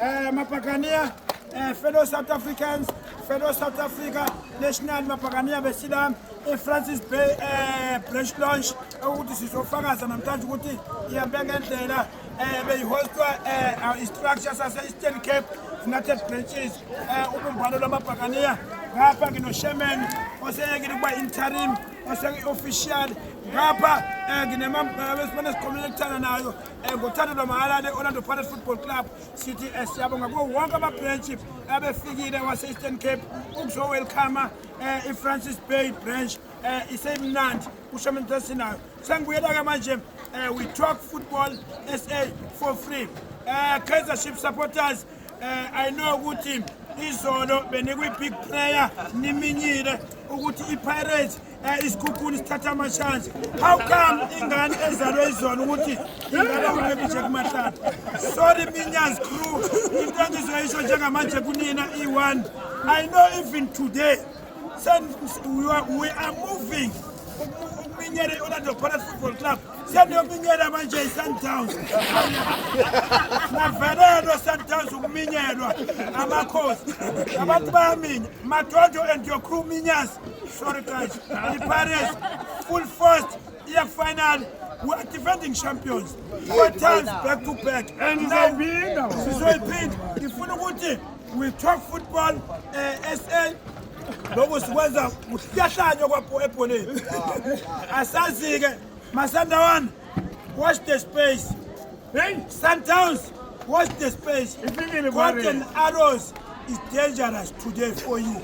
Eh, mapakania eh, fellow South Africans, fellow South Africa National Mapakania besila e-Francis eh, Bay eh, branch launch ukuthi sizofakaza namhlanje ukuthi ihambe ngendlela eh, beyihostwa eh, istructure sase-Eastern Cape United Branches eh, ubumbano lwamabhakaniya ngapha nginosherman oseyekile ukuba interim oseke-official ngapha um eh, nginemabesibane esikhomela ekuthana nayo eh, ngothando lwamahhala le-orlando pirates football club sithi eh, siyabonga kuwo wonke amabhrentshi abefikile wase-eastern cape ukuzowelcoma um i-francis bay branch um isemnandi kusho mntu esinayo sengibuyela-ke manje um we talk football sa for free um kaizer ship supporters um i know ukuthi izolo benikwi-big prayer niminyile ukuthi i-pirates Eh, isikhukhuni sithatha amashanje how come ingane ezalwe izona ukuthi ingaba ubebiche kumahlala sorry minyaz crew into engizoyisho njengamanje kunina i-one i know even today we are moving ukuminyele i-orlando pirates football club Seniyominyela manje iSundowns. Navelelwa iSundowns ukuminyelwa amakhosi. Abantu bayaminya. Madodo and your crew minyas. Sorry guys. The Pirates full force iya final. We are defending champions. Four times back to back. And sizoyiphinda. Sizoyiphinda. Ngifuna ukuthi we talk football uh, eh, SA lokhu sikwenza kuhlahlanywa kwapho ebholeni asazi-ke masandawana watch the space sundowns watch the space golden arrows is dangerous today for you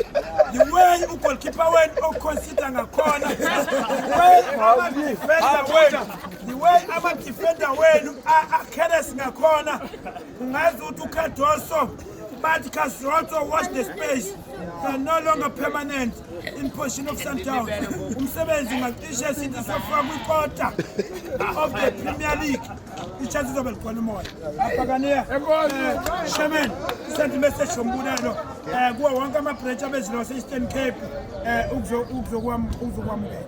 the way ugolkipa wenu oconsider ngakhona the way amadefenda wenu akheres ngakhona ungazi ukuthi ucardoso But Castro watch the space. They are no longer permanent in position of Sundown. Umsebenzi ngacishe sithi sofika kwikota of the Premier League. Ichances of likhona umoya. Abhakaniya. Eh, Shaman, send message sombulelo. Eh kuwa wonke ama branch abezilo wase Eastern Cape eh ukuzo ukuzokwam ukuzokwamukela.